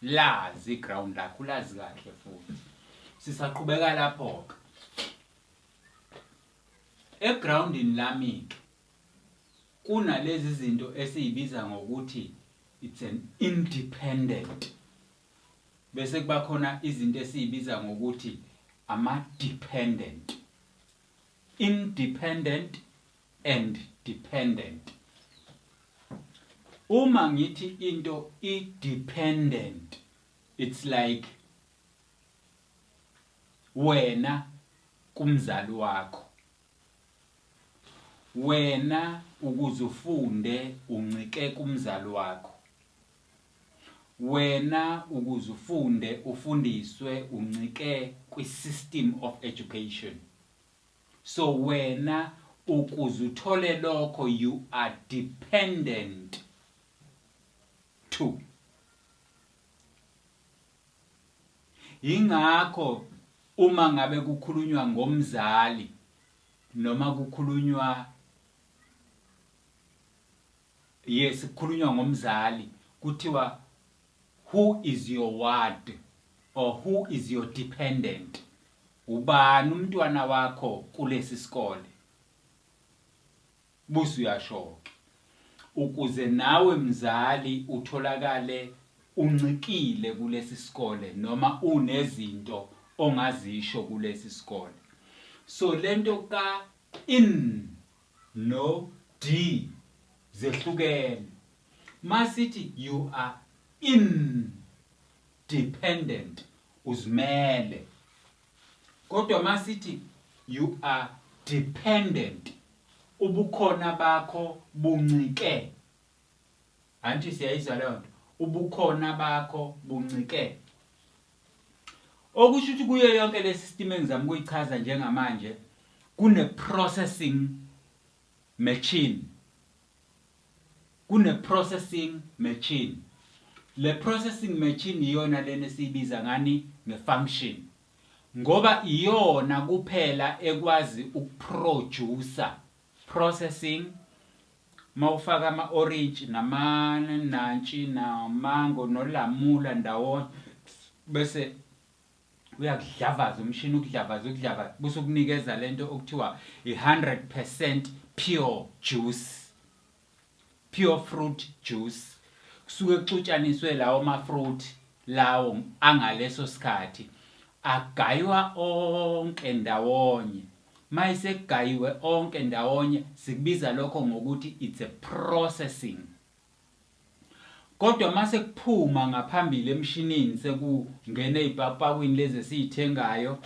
lazi iground lakho ulazi kahle futhi sisaqhubeka lapho ke egroundini lami ke kunalezi zinto esiyibiza ngokuthi it's an independent bese kuba khona izinto esiyibiza ngokuthi ama dependent independent and dependent. Uma ngithi into i dependent it's like wena kumzali wakho wena ukuze ufunde uncike kumzali wakho wena ukuze ufunde ufundiswe uncike kwi-system of education So wena ukuze uthole lokho you are dependent to. Yingakho uma ngabe kukhulunywa ngomzali noma kukhulunywa yes kukhulunywa ngomzali kuthiwa who is your ward or who is your dependent Ubani umntwana wakho kulesi sikole? Busi, Uyashoke ukuze nawe mzali utholakale uncikile kulesi sikole noma unezinto ongazisho kulesi sikole. So lento ka in no di zehlukene. Masithi you are in. dependent uzimele kodwa masithi you are dependent ubukhona bakho buncike anti siyayizwa leyo nto ubukhona bakho buncike okusho ukuthi kuyo yonke le system engizama ukuyichaza njengamanje kune processing machine Kune processing machine. Le processing machine iyona lena esiyibiza ngani nge function. Ngoba iyona kuphela ekwazi ukuproducer processing mawufaka ama orange namanantshi namango nolamula ndawonye bese uyakudlavaza umshini ukudlavaza ukudlavaza bese ukunikeza lento okuthiwa i100% pure juice pure fruit juice kusuke kuxutshaniswe lawo ma fruit lawo angaleso sikhathi agaywa onke ndawonye mayisekugayiwe onke ndawonye sikubiza lokho ngokuthi it's a processing Kodwa mase kuphuma ngaphambili emshinini seku ngena ezipakupakwini lezi esizithengayo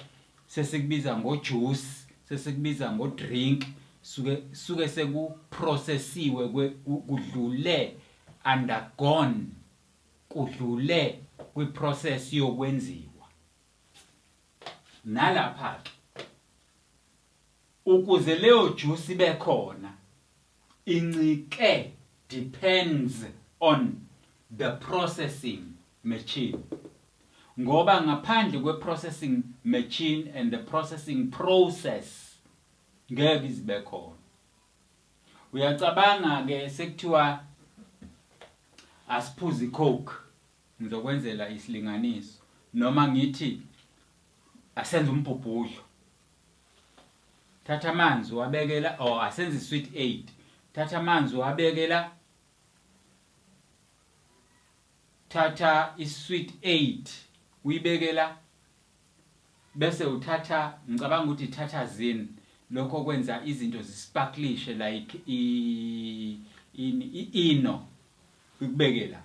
sesikubiza ngo juice sesikubiza ngo drink suke suke seku processiwe kudlule undergone kudlule kwi process yokwenziwa nalapha ke Ukuze leyo juice ibe khona incike depends on the processing machine ngoba ngaphandle kwe processing machine and the processing process ngeke izibe khona. Uyacabanga ke sekuthiwa asiphuze icoke ngizokwenzela isilinganiso noma ngithi asenze umbhubhudlo thatha amanzi wabekela or oh, asenze isweet 8 thatha amanzi wabekela thatha isweet 8 uyibekela bese uthatha ngicabanga ukuthi thatha zin lokho kwenza izinto zisparklishe like i ini i ino ikubekela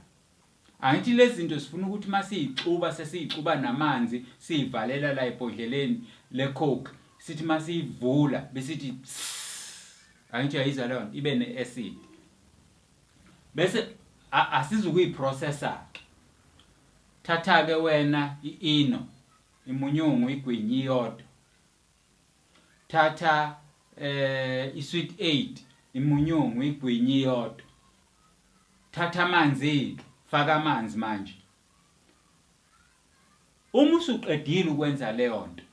Angithi lezi zinto zifuna ukuthi uma siyixuba sesiyixuba namanzi siyivalela la ebhodleleni le-coke sithi uma siyivula besithi angithi uyayizwa leyo nto ibe ne-acid bese asizukuyiprocessa-ke thatha-ke wena i-ino imunyungu igwinyi iyodwa thatha eh isweet aid imunyungu igwinyi iyodwa thatha amanzi ke faka amanzi manje uma usuqedile ukwenza leyo nto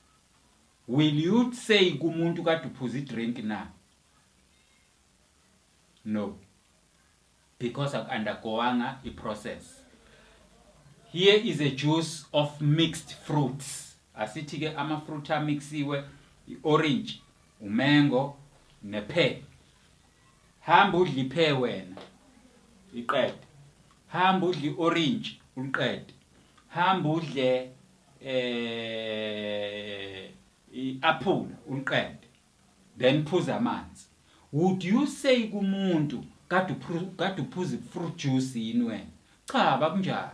will you say kumuntu kade uphuza idrink na no because aku undergoanga i process here is a juice of mixed fruits asithi ke ama fruit amixiwe i orange umango ne pear hamba udle i pear wena iqede hamba udle i orange uliqede hamba udle eh i apple uliqede Then phuza amanzi. Would you say kumuntu kade kade uphuza ifruit juice yini wena? Cha bakunjalo.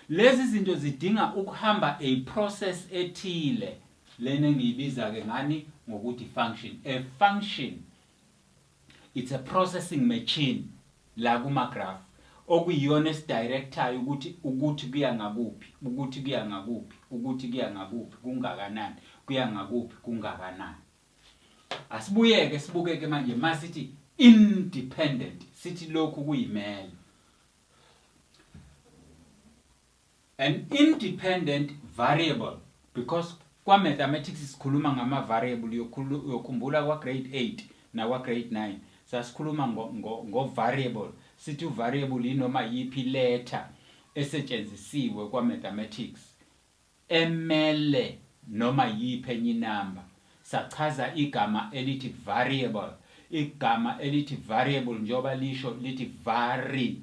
Lezi zinto zidinga ukuhamba a process ethile. Lena engiyibiza ke ngani ngokuthi function. A function It's a processing machine la kuma graph okuyiyona esidirectayo ukuthi ukuthi kuya ngakuphi, ukuthi kuya ngakuphi, ukuthi kuya ngakuphi, kungakanani, kuya ngakuphi, kungakanani. Asibuyeke sibukeke manje masithi independent sithi lokhu kuyimele. An independent variable because kwa mathematics sikhuluma ngama variable uyokhumbula kwa grade 8 nakwa grade 9 sasikhuluma ngo, ngo, ngo variable sithi u variable yinoma yiphi letter esetshenzisiwe kwa mathematics emele noma yiphi enye inamba sachaza igama elithi variable igama elithi variable njengoba lisho lithi vary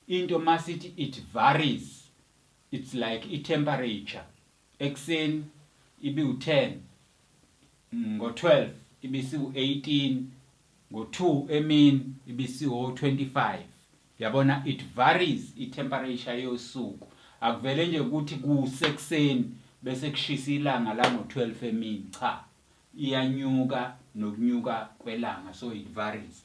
Into masithi it varies it's like i temperature ekseni ibi u 10 ngo 12 ibisi u 18 ngo 2 emini ibisi o 25 yabona it varies i temperature yosuku akuvele nje ukuthi kusekuseni bese kushisa ilanga la ngo 12 emini cha iyanyuka nokunyuka kwelanga so it varies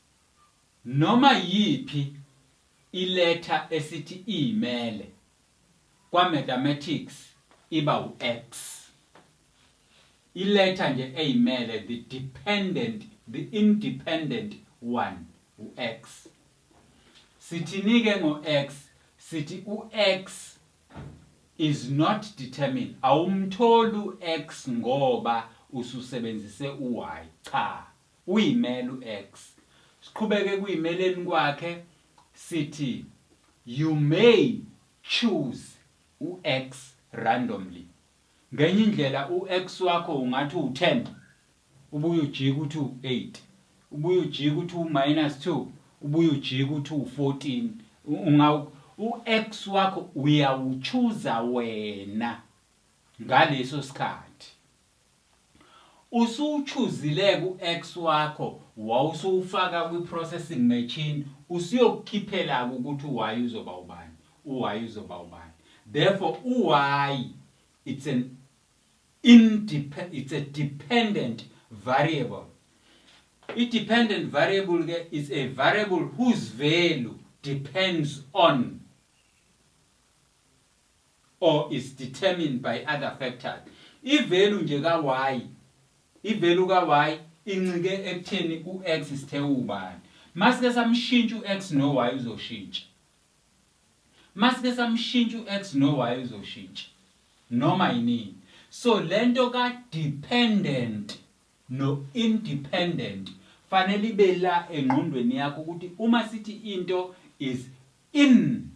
Noma yiphi iletha esithi iyimele kwa-mathematics iba u-X. Iletha nje eyimele, the dependent, the independent one, u-X. Sithini-ke ngo-X? Sithi u-X is not determined, awumtholi u-X ngoba ususebenzise u-Y, cha. Uyimele u ex. Siqhubeke ekuyimeleni kwakhe sithi you may choose u ex randomly. Ngenye indlela u ex wakho ungathi uwu 10 ubuye ujike ukuthi uwu 8, ubuye ujike ukuthi uwu minus 2, ubuye ujike ukuthi uwu 14. Ungawu u ex wakho uyawuchuza wena ngaleso sikhathi. Usuwuchuzile-ke u-ex wakho wawusuwufaka kwi-processing machine usuyokukhiphela-ke ukuthi u-y uzoba ubani, u-y uzoba ubani. Therefore u-y it's an independent, it's a dependent variable. I-dependent variable-ke is a variable whose value depends on or is determined by other factors. I value nje ka Y, i value ka Y incike ekutheni u X sithe uwubani. Masike samshintsha u X no Y uzoshintsha. Masike samshintsha u X no Y uzoshintsha. Noma yinini. So lento ka dependent no independent fanele ibe la engqondweni yakho ukuthi uma sithi into is in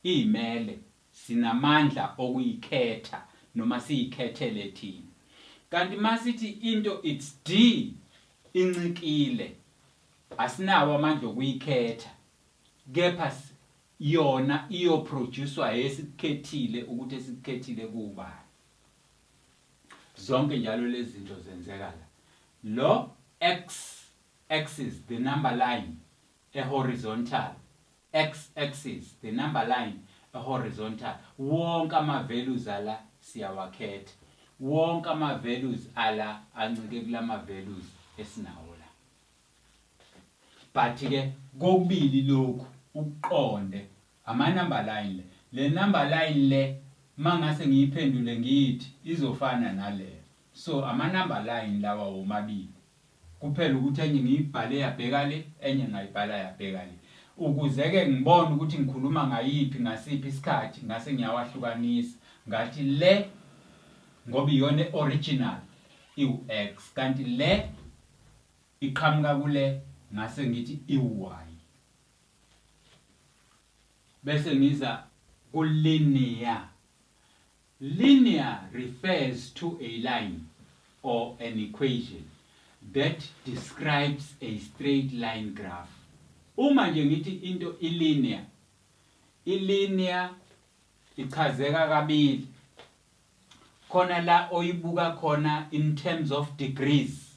Izimele sinamandla okuyikhetha noma siyikhethele thina. Kanti masithi into it's di incikile asinawo amandla okuyikhetha kepha yona iyoproducwa esikukhethile ukuthi esikukhethile kubani. Zonke njalo lezi zinto zenzeka la. Lo X axis the number line ehorizontal X-axis, the number line ehorizontal, wonke ama values ala siyawakhetha. Wonke ama values ala ancike kulama values esinawo la. But ke kokubili lokhu ukuqonde ama number line le. Le number line le mangase ngiyiphendule ngithi izofana nale. So ama number line lawa womabili. Kuphela ukuthi enye ngiyibhale yabheka le, enye ngayibhala yabheka le. Ukuze-ke ngibone ukuthi ngikhuluma ngayiphi ngasiphi isikhathi, ngase ngiyawahlukanisa, ngathi le ngoba iyona e-original iwu-X, kanti le iqhamuka kule ngase ngithi iwu-Y. Bese ngiza ku-linear. Linear refers to a line or an equation that describes a straight line graph. Uma nje ngithi into i-linear, i-linear ichazeka kabili. Khona la oyibuka khona in terms of degrees.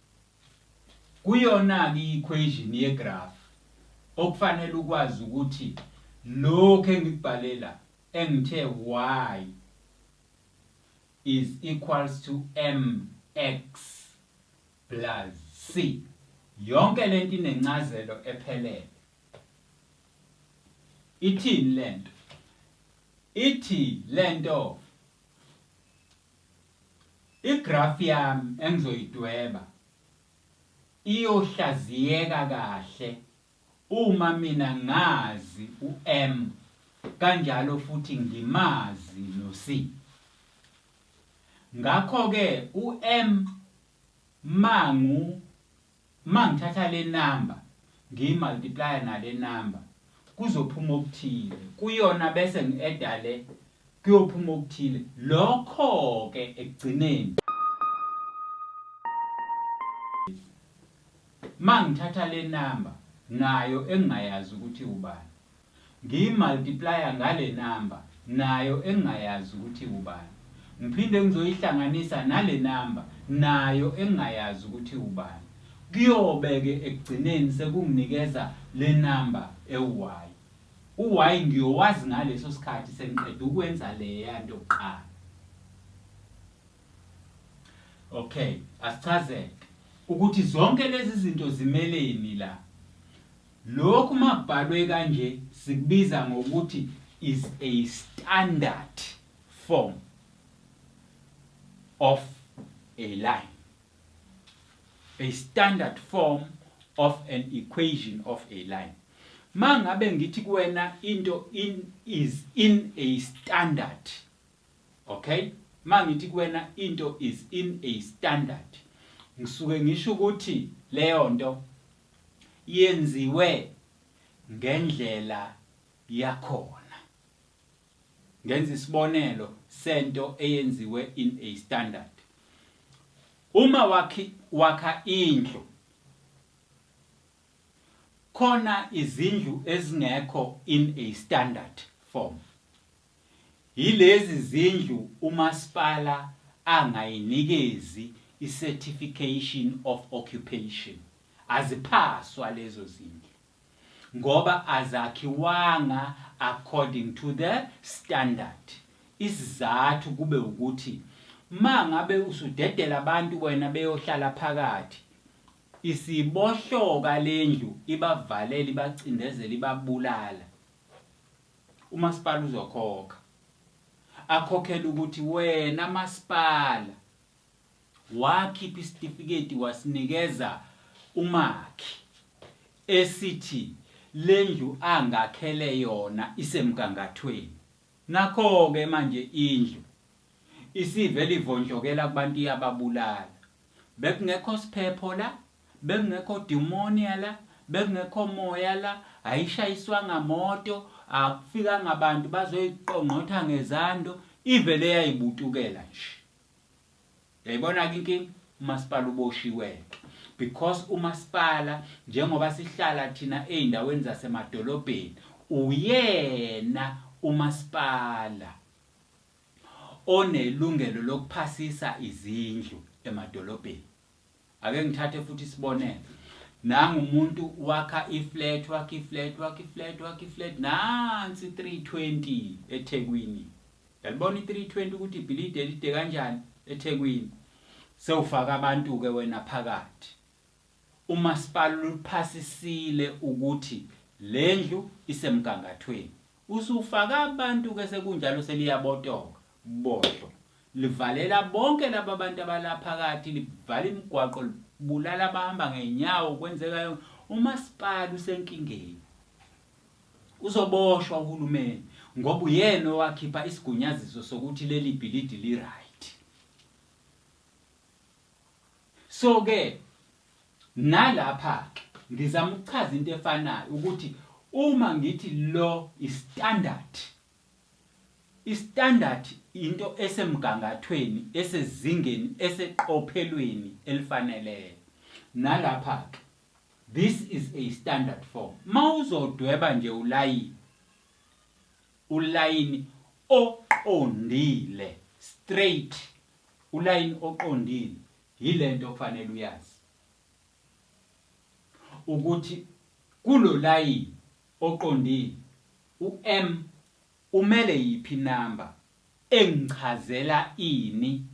Kuyona-ke i-equation yegrafu okufanele ukwazi ukuthi lokhu engikubhale la engithe y is equals to mx plus c yonke le nto inencazelo ephelele. Ithini le nto? Ithi le nto Igrafu yami engizoyidweba iyohlaziyeka kahle uma mina ngazi u-M kanjalo futhi ngimazi no-C. Ngakho-ke u-M mangu Uma ngithatha le number ngiyi multiplyer nale number kuzophuma okuthile kuyona bese ngi adda le kuyophuma okuthile lokho ke ekugcineni uma ngithatha le number nayo engingayazi ukuthi ubani Ngiyi multiplier ngale number nayo engingayazi ukuthi iwubani. Ngiphinde ngizoyihlanganisa nale number nayo engingayazi ukuthi iwubani. Kuyobe ke ekugcineni sekunginikeza le number ewu-y. U-y ngiyowazi ngaleso sikhathi sengiqede ukwenza leya nto kuqala. Okay, asichazeke ukuthi zonke lezi zinto zimeleni la. Lokhu uma kubhalwe kanje sikubiza ngokuthi is a standard form of a line. A standard form of an equation of a line. Mangabe ngithi kuwena into in is in a standard. Okay? Mangithi kuwena into is in a standard. Ngisuke ngisho ukuthi leyo nto yenziwe ngendlela yakhona. Ngenza isibonelo sento eyenziwe in a standard. Uma wakhi wakha indlu khona izindlu ezingekho in a standard form. Yilezi zindlu umasipala angayinikezi iCertification of Occupation, aziphaswa lezo zindlu ngoba azakhiwanga according to the standard. Isizathu kube ukuthi mangabe usudedela abantu wena beyohlala phakathi isibohloka lendlu ibavalele ibacindezela ibabulala. Umasipala uzokhokha akhokhela ukuthi wena masipala wakhipha isitifiketi wasinikeza umakhi esithi lendlu angakhele yona isemgangathweni nakho-ke manje indlu isivele ivontshokela kubantu iyababulala bekungekho siphepho la Bekungekho demonia la, bekungekho moya la, ayishayiswanga moto, akufikanga bantu bazoyiqongqotha ngezando, ivele yayibutukela nje. Yayibona-ke inkinga? umasipala uboshiweke because umasipala njengoba sihlala thina ezindaweni zasemadolobheni uyena umasipala onelungelo lokuphasisa izindlu emadolobheni Ake ngithathe futhi isibonelo. Nangu umuntu wakha iflat wakha iflat wakha iflat wakha iflat nansi 320 eThekwini. Yalibona i320 ukuthi ibhilidi elide kanjani eThekwini. Sewufaka abantu ke wena phakathi. Umasipala uphasisile ukuthi lendlu isemgangathweni. Usufaka abantu ke sekunjalo seliyabotoka, bohlo, livalela bonke laba bantu abala phakathi, livala imigwaqo, libulala abahamba ngenyawo, kwenzeka yonke. Umasipala usenkingeni. Uzoboshwa uhulumeni ngoba uyena owakhipha isigunyaziso sokuthi leli bhilidi li-right. So ke nalapha ke ngizama ukuchaza into efanayo ukuthi uma ngithi lo istandard istandard into esemgangathweni esezingeni eseqophelweni elifaneleyo nalapha ke this is a standard form mawuzodweba nje ulayini Ulayini oqondile, straight, ulayini oqondile yile nto okufanele uyazi ukuthi kulo layini oqondile u-M umele yiphi inamba engichazela ini,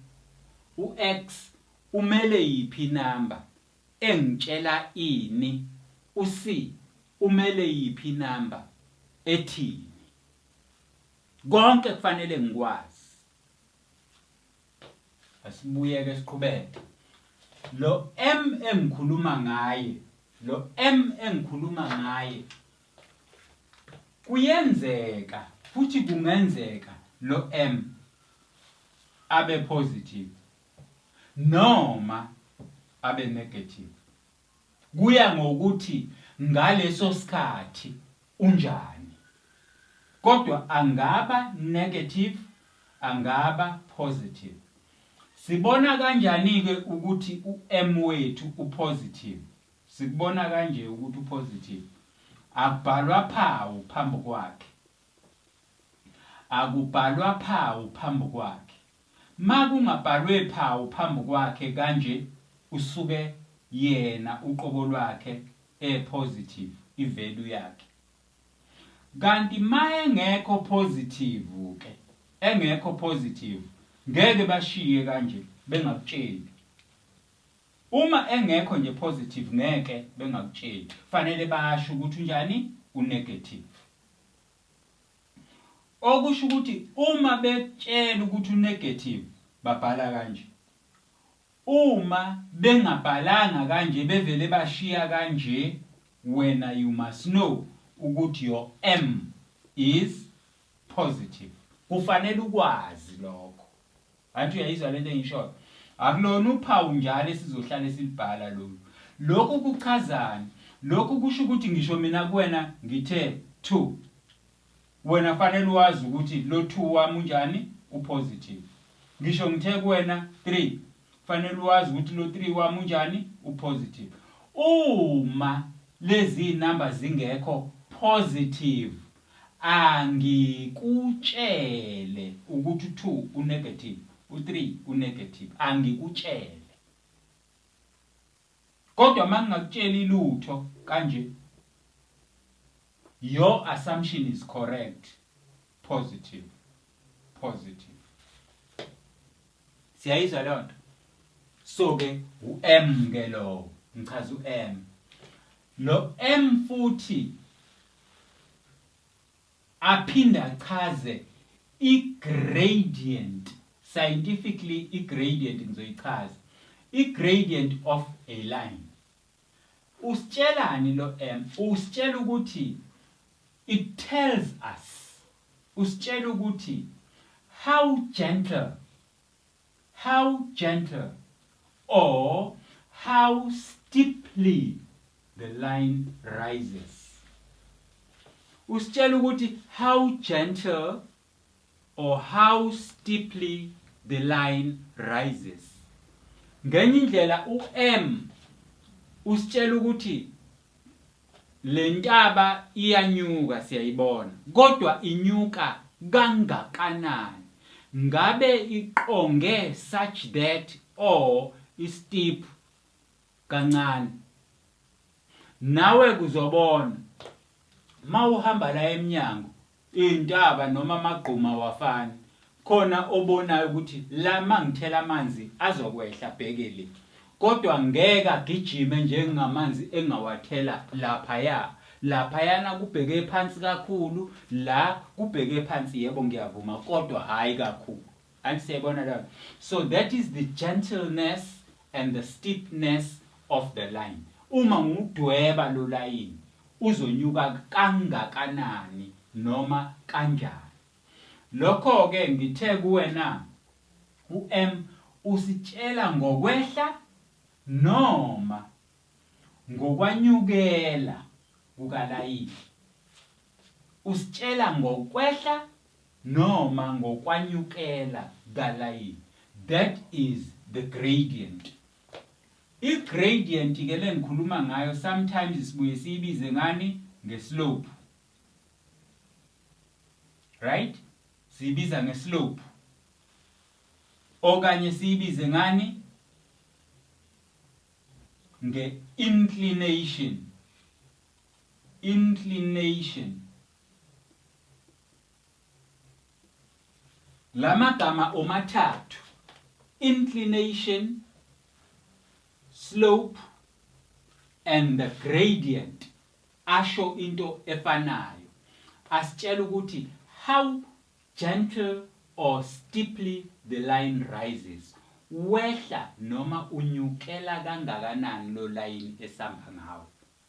u-X umele yiphi inamba engitshela ini usi umele yiphi number ethini konke kufanele ngikwazi asibuyeke siqhubeke lo M engikhuluma ngaye lo M engikhuluma ngaye kuyenzeka futhi kungenzeka lo M abe positive noma abe negative kuya ngokuthi ngaleso sikhathi unjani kodwa angaba negative angaba positive Sibona kanjani ke ukuthi uM wethu upositive? Sikubona kanje ukuthi upositive. Akubhalwa phawu phambi kwakhe. Akubhalwa phawu phambi kwakhe. makungabhalwe phawu phambi kwakhe kanje usuke yena uqobo lwakhe e positive i value yakhe kanti ma engekho positive ke engekho positive ngeke bashiye kanje bengakutsheli uma engekho nje positive ngeke bengakutsheli fanele basho ukuthi unjani u negative. Okusho ukuthi uma bekutshela ukuthi unegative babhala kanje. Uma bengabhalanga kanje bevele bashiya kanje wena you must know ukuthi your M is positive. Kufanele ukwazi lokho. Anti uyayizwa lento engiyishoyo? Akulona uphawu njalo esizohlale silibhala lolu. Lokhu kuchazani? Lokhu kusho ukuthi ngisho mina kuwena ngithe two. Wena kufanele uwazi ukuthi lo two wami unjani? Upositive. Ngisho ngithe kuwena three. Kufanele uwazi ukuthi lo three wami unjani? Upositive. Uma lezi number zingekho positive Angikutshele ukuthi u-two u-negative, u-three u-negative, angikutshele. Kodwa uma ngingakutsheli lutho kanje, your assumption is correct, positive, positive. Siyayizwa leyo nto? So-ke u-M-ke lowo, ngichaza u-M. Lo M futhi aphinde achaze i-gradient, scientifically i-gradient ngizoyichaza, i-gradient of a line. Usitshelani lo M? Usitshela ukuthi, it tells us, usitshela ukuthi how gentle How gentle or how steeply the line rises. Usitshela ukuthi how gentle or how steeply the line rises. Ngenye indlela u-M usitshela ukuthi Lentaba iyanyuka siyayibona kodwa inyuka kangakanani ngabe iqonge such that or i steep kancane nawe kuzobona mawuhamba la emnyango Iyntaba noma amagquma awafani khona obonayo ukuthi la mangithela amanzi azokwehla bheke le kodwa ngeke agijime njengamanzi engawathela laphaya laphayana kubheke phansi kakhulu la kubheke phansi yebo ngiyavuma kodwa hhayi kakhulu. Anti siyayibona lapho. So that is the gentleness and the steepness of the line. Uma ngudweba lo layini uzonyuka kangakanani noma kanjani. Lokho ke ngithe kuwena uM usitshela ngokwehla noma ngokwanyukela kukalayini. Usitshela ngokwehla noma ngokwanyukela kukalayini, that is the gradient. I gradient ke le ngikhuluma ngayo sometimes sibuye siyibize ngani nge slope. Right? Siyibiza nge slope. Okanye siyibize ngani nge inclination. Inclination La magama omathathu, inclination, slope and the gradient asho into efanayo. Asitshela ukuthi how gentle or steeply the line rises. Wehla noma unyukela kangakanani lo layini esamba ngawo.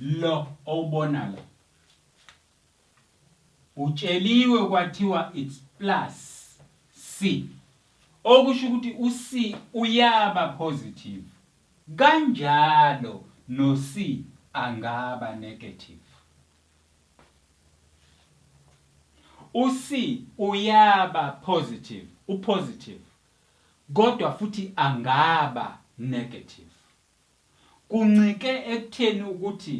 Lo owubona la utsheliwe kwathiwa it's plus C okusho ukuthi u C uyaba positive kanjalo no C angaba negative. U C uyaba positive, u positive, kodwa futhi angaba negative. Kuncike ekutheni ukuthi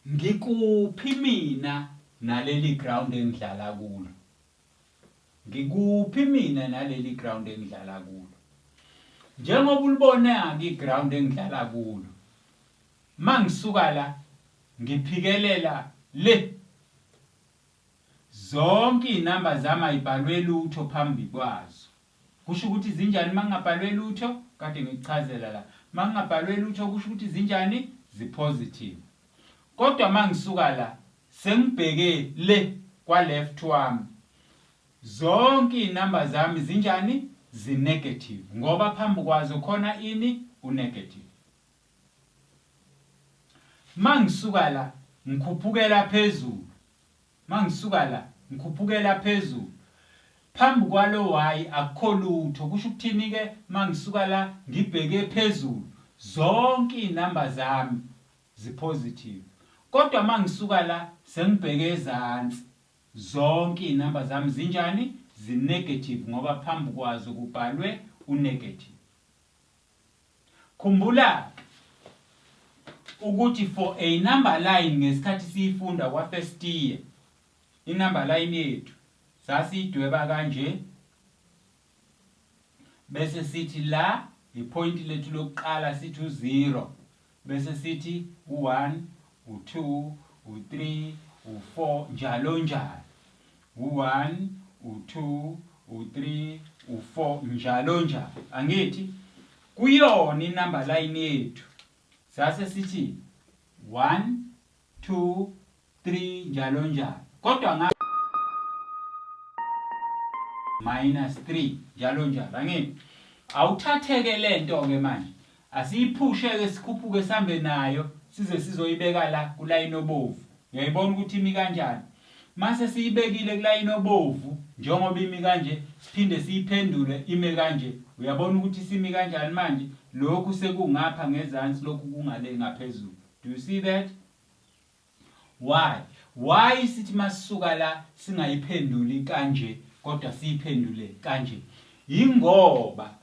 ngikuphi mina naleli ground engidlala kulo. Ngikuphi mina naleli ground engidlala kulo. Njengoba ulibona-ke iground engidlala kulo. Mangisuka la ngiphikelela le. Zonke izinamba zami ayibhalwe lutho phambi kwazo. Kusho ukuthi zinjani uma kungabhalwe lutho? Kade ngikuchazela la. Uma kungabhalwe lutho kusho ukuthi zinjani? Zi-positive. Kodwa uma ngisuka la, sengibheke le kwa-left wami, zonke izinamba zami zinjani? Zi-negative, ngoba phambi kwazo khona ini? U-negative. Uma ngisuka la, ngikhuphukela phezulu. Mangisuka la, ngikhuphukela phezulu. Phambi kwalo wayi akukho lutho, kusho ukuthini-ke? Mangisuka la, ngibheke phezulu, zonke izinamba zami zi-positive. Kodwa mangisuka la, sengibheke ezansi, zonke izinamba zami zinjani? Zi-negative ngoba phambi kwazo kubhalwe u-negative. Khumbula ukuthi for a number line ngesikhathi siyifunda kwa first year inumber line yethu sasiyidweba kanje bese sithi la ipoint lethu lokuqala sithi u0 Bese sithi u-one, u-two, u-three, u-four njalonjalo. U-one, u-two, u-three, u-four njalonjalo. Angithi? Kuyona inumber line yethu sase sithi one, two, 3 njalo njalo kodwa nga minus 3 njalo njalo angini awuthatheke lento ke manje asiyiphushe ke sikhuphuke sambe nayo size sizoyibeka la kulayini obovu uyayibona ukuthi imi kanjani mase siyibekile kulayini obovu njengoba imi kanje siphinde siyiphendule ime kanje uyabona ukuthi simi kanjani manje lokhu sekungapha ngezansi lokhu kungale ngaphezulu do you see that Why why sithi masisuka la singayiphenduli kanje kodwa siyiphendule kanje yingoba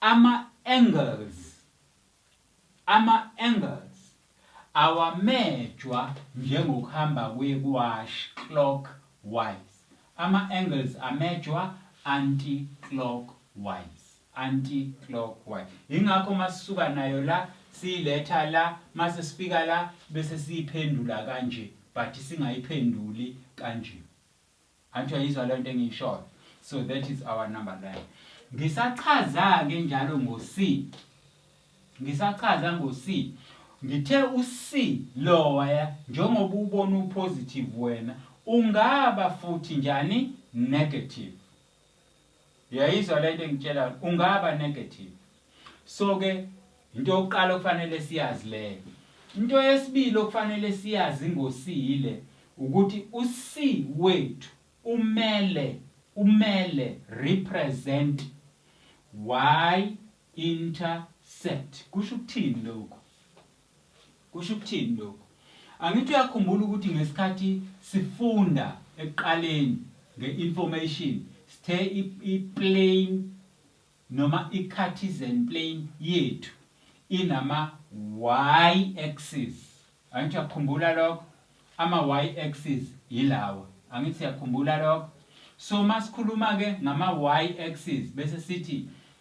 ama angles ama angles awamejwa njengokuhamba kwe wash clock wise ama angles amejwa anti clock wise anti-clockwise yingakho masisuka nayo la siyiletha la mase sifika la bese siyiphendula kanje but singayiphenduli kanje anti uyayizwa lento engiyishoyo so that is our number line ngisachaza ke njalo ngo C ngisachaza ngo C ngithe u C lower njengoba ubona u positive wena ungaba futhi njani negative uyayizwa lento engitshela ungaba negative so ke into yokuqala okufanele siyazi leyo into yesibili okufanele siyazi ngosile ukuthi uC wethu umele umele represent y intercept kusho ukuthini lokho Kusho ukuthini lokhu? Angithi uyakhumbula ukuthi ngesikhathi sifunda ekuqaleni nge-information sithe i-plane noma i-Cartesian plane yethu inama-y axis. Angithi uyakhumbula lokho? Ama-y axis yilawa. Angithi uyakhumbula lokho? So masikhuluma-ke ngama-y axis bese sithi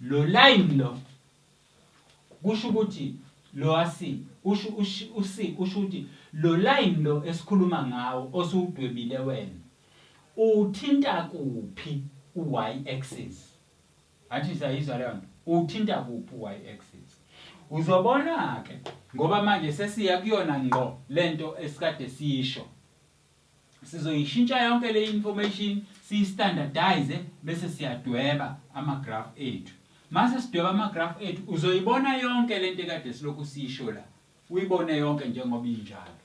Lo line lo kusho ukuthi lo asi usho usi usho ukuthi lo line lo esikhuluma ngawo osuwudwebile wena uthinta kuphi u-y axis athi sayizwa leyo nto uthinta kuphi u-y axis uzobona ke ngoba manje sesiya kuyona ngqo lento esikade siyisho Sizoyishintsha yonke le information siyistandardize bese siyadweba ama-graph ethu. Mase sidweba ama-graph ethu uzoyibona yonke lento ekade silokhu siyisho la. Uyibone yonke njengoba injalo.